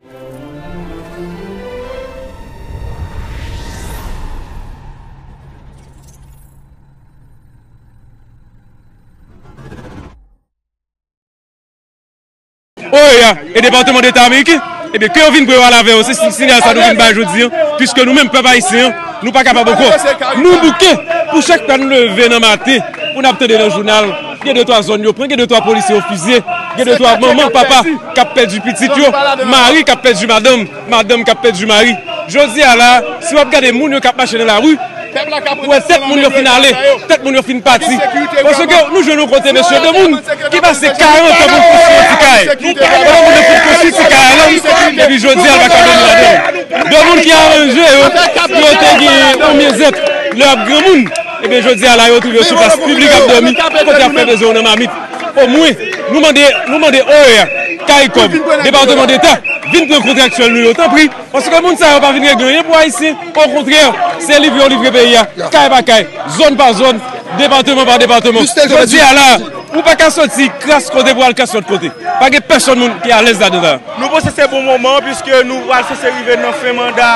OEA e Departement d'Etat Ameriken, ebyen ke yo vin preval avè yo, se sinyal sa nou vin bay jodi an, piske nou menm pèp ayisyen an, nou pa kapab ankò, nou bouke, pou chak tan nou leve nan maten, pou n ap tande nan jounal, gen de twa zòn yo pran, gen de twa polisye yo fizye, gen de twa manman, papa. k ap pèdi pitit yo, mari k ap pèdi madanm, madanm k ap pèdi mari. Jodi a la a, si w ap gade moun yo k ap mache nan lari, ou wè tèt moun yo fin ale, tèt moun yo fin pati. Paske nou jwenn yon kote mesye, de moun ki pase 40 an pou l konstwi yon ti kay, pandan moun yo fin konstwi ti kay a lan, epi jodi a l pa ka dòmi ladan l. De moun ki aranje yo, pou yo te gen yon myezèt lè y ap granmoun, ebyen jodi a la yo twouve yo sou plas piblik ap dòmi, kote y ap fè bezwen yo nan mamit. O mwen, nou mande, nou mande OEA, Caricom, Departement d'Etat, vin pran kontraktyèl nou yo, tanpri, paske moun sa yo pa vin regle anyen pou Ayisyen, o kontrè, se livre yo livre peyi a, kay pa kay, zòn pa zòn, departement pa departement. Jodi a la a, ou pa ka soti kras kote pou al kras lòt kote. Pa gen pèsòn moun ki alèz ladan sa a. Nou panse se bon moman an, piske nou pral sanse rive nan fen manda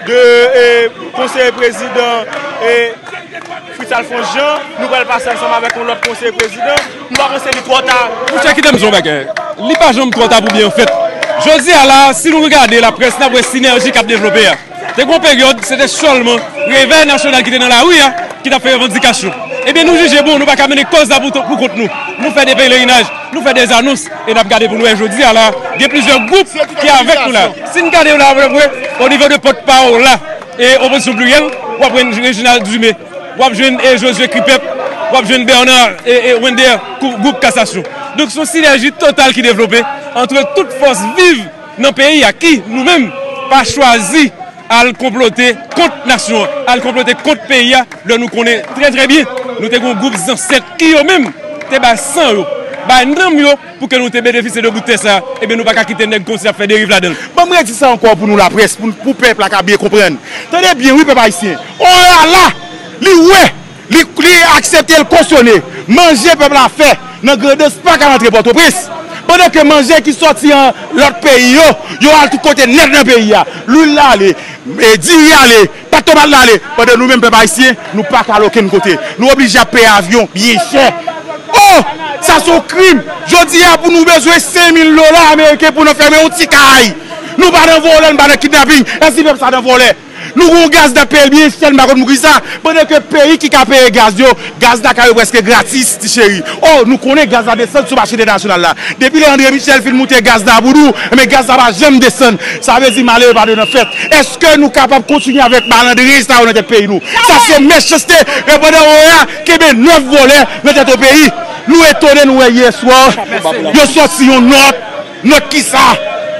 2 konseye prezidan. Fritz Alphonse Jean, nou pral pase ansanm avèk yon lòt konseye prezidan. Nou pa panse li twò ta. Mon chè, kite m di w yon bagay. Li pa janm twò ta pou byen fèt. Jodi a la a, si nou regade laprès, n ap wè sinèji k ap devlope a. Te gen yon peryòd, se te sèlman Revèy Nasyonal ki te nan lari a, ki t ap fè revandikasyon. Ebyen, nou jije bon, nou pa ka mennen kòz la pou kont nou. Nou fè de pelerinaj, nou fè de anons, e n ap gade pou nou wè jodi a la a, gen plizyè gwoup ki avèk nou la a. Si n gade yo la a, n ap wè, onivo de pòt pa w la, E opozisyon pliryèl, w ap jwenn Reginald Dumé, w ap jwenn Josué Kripek, w ap jwenn Bernard Wender kou gwoup kasasyon. Donk se yon sinèji total ki devlope antre tout fòs viv nan peyi a ki, nou menm, pa chwazi al konplote kont nasyon an, al konplote kont peyi a lè nou konnen trè trè byen nou te gen yon gwoup zansèt ki yo menm te bay san yo, bay nanm yo. Pou ke nou te benefisye de bout tè sa, ebyen nou pa ka kite nèg konsi ap fè deriv ladan l. Banm redi sa ankò pou nou laprès, pou pèp la ka byen konprann. Tande byen wi pèp ayisyen, Orala li wè, li aksepte, li kosyone, manje pèp la fè nan Grandans pa ka rantre Pòtoprens. Pandan ke manje ki sòti an lòt peyi yo, yo al tout kote nèt nan peyi a. Lwil la ale, diri ale. Pat to bat la ale pandan nou menm pèp ayisyen nou pa ka al okenn kote. Nou oblije ap peye avyon byen chè. Oh! Sa se yon krim. Jodi a pou nou bezwen 5000 dola ameriken pou nan fèmen yon ti kay. Nou pa nan vòlè, nou pa nan kidnaping. Èske pèp sa nan vòlè? Nou gen yon gaz nap peye l byen chè, m pa konn poukisa, pandan ke peyi ki ka peye gaz yo Gaz Dakar yo preske gratis ti cheri. Oh nou konnen gaz la desann sou mache entènasyonal la. Depi lè Andre Michel fin moute gaz nan boudou, enben gaz la pa janm desann. Sa vle di malere pa dwe nan fèt. Eske nou kapab kontinye avèk malandrin sa yo nan tèt peyi nou? Sa se mechanste e pandan OEA kenbe 9 vòlè nan tèt yon peyi. Nou etone nou wè yè swa yo sòti yon nòt. Nòt ki sa?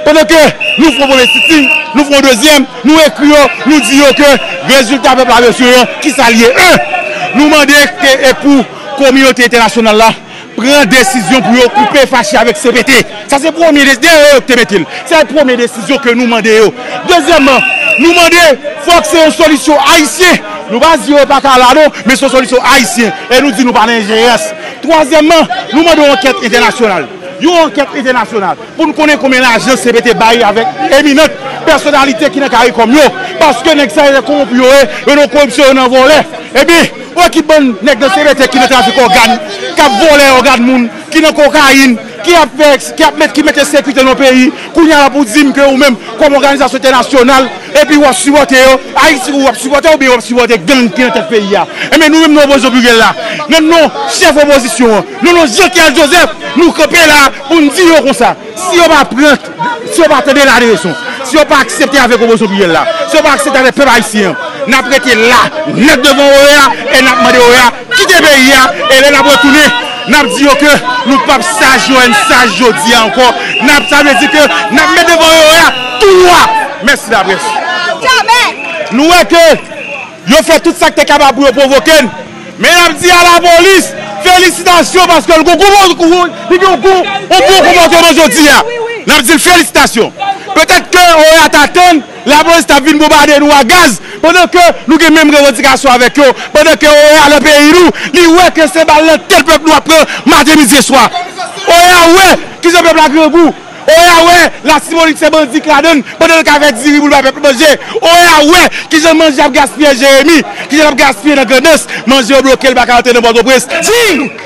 Pandan ke nou fè yon premye sitin, nou fè yon dezyèm, nou ekri yo, nou di yo ke rezilta pèp la bezwen an, ki sa li ye? 1. Nou mande ke e pou kominote entènasyonal la pran desizyon pou yo koupe fache avèk cpt. Sa se premye desizyon, dèyè yo ki te mete l. Sa e premye desizyon ke nou mande yo. Dezyèmman, nou mande fòk se yon solisyon ayisyen. Nou pa di yo pa ka la non, men se yon solisyon ayisyen. E nou di nou pa nan enjerans. Twazyèmman, nou mande yon ankèt entènasyonal. Yon ankèt entènasyonal pou n konnen konbyen lajan cpt bay avèk eminant pèsonalite ki nan caricom yo paske nèg sa yo nan kowonpi yo ye yo nan koripsyon yo nan vòlè ebyen wè ki bann nèg nan cpt ki nan trafik ògàn kap vòlè ògàn moun ki nan kokayin ki ap fè ki ap mete sekirite nan yon peyi kounye a la pou di m ke ou menm kòm òganizasyon entènasyonal Epi wap sipòte yo, Ayiti ou wap sipòte oubyen wap sipòte gang ki nan tèt peyi a. Enben nou menm nan opozisyon pliryèl la, nan non chèf opozisyon an, nan non Jean Charles Joseph, nou kanpe la pou n di yo konsa, si yo pa pran, si yo pa tande laleson, si yo pa aksepte avèk opozisyon pliryèl la, si yo pa aksepte avèk pèp ayisyen an, nap rete la nèt devan OEA e nap mande OEA Kite peyi a e lè nap retounen nap di yo ke nou pap saj yo ann saj jodi a ankò nap sa vle di ke nap met devan yo a tou nwa mèsi laprès nou wè ke yo fè tout sak te kapab pou yo pwovoke n men nap di a lapolis felisitasyon paske l gon li gen yon bon konpòteman jodi a nap di l felisitasyon petèt ke oea ta tann. Lapolis tap vin bonbade nou a gaz pandan ke nou gen menm revandikasyon avèk yo, pandan ke OEA nan peyi nou, li wè ke se bal nan tèt pèp nou ap pran maten midi e swa. OEA wè kijan pèp la grangou, OEA wè latibonit se bandi k ladann pandan l ka fè diri pou l bay pèp manje, OEA wè kijan manje ap gaspiye Jeremi, kijan l ap gaspiye nan Grandans, manje yo bloke l pa ka antre nan Pòtoprens. Di!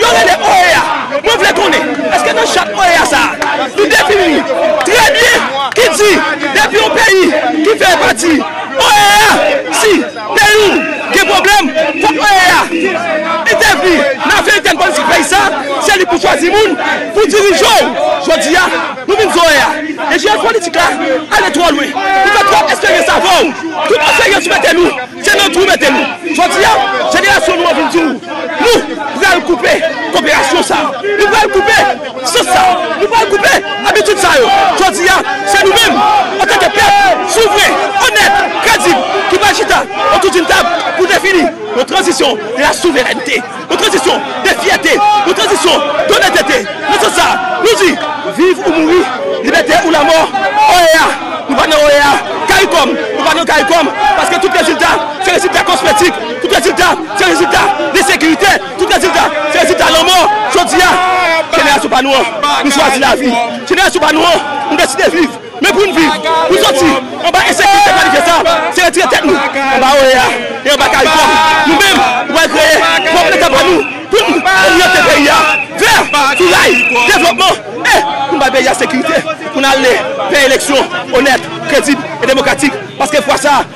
Yo rele OEA. Mwen vle konnen, eske nan chat OEA sa a, li defini trè byen, ki di, depi yon peyi ki fè pati OEA, si peyi w gen pwoblèm, fòk OEA entèvni nan afè entèn politik peyi sa a, se li pou chwazi moun pou dirije w. Jodi a, nou vin di OEA, enjenyè politik la ale twò lwen, ou fè twòp esperyans avè w, tout esperyans ou mete nou. Se nan twou mete nou. Jodi a, jenerasyon nou an vin di w, Nou pral koupe koperasyon sa a. Nou pral koupe sans sa a. Nou pral koupe abitid sa yo. Jodi a, se nou menm, antanke pèp souvren, onèt, kredib, ki pral chita otou di n tab pou defini yon tranzisyon de la souverènte. Yon tranzisyon de fyète, yon tranzisyon donètete. Nan sans sa, nou di, Viv ou mouri, libète ou lamò! OEA, nou pa nan OEA! Caricom, nou pa nan Caricom! Paske tout rezilta se rezilta kosmetik, tout rezilta se rezilta ensekirite, tout rezilta se rezilta lanmò. Jodi a, jenerasyon pa nou an, nou chwazi lavi. Jenerasyon pa nou an, nou deside viv. Men pou n viv, pou n soti anba ensekirite planifye sa a, se retire tèt nou anba oea e anba karikòm nou menm pou n al kreye pwòp Leta pa nou pou n oryante peyi a vè tou ray devlopman e pou n bay peyi a sekirite pou n ale vè eleksyon onèt, kredib e demokratik paske fwa sa a.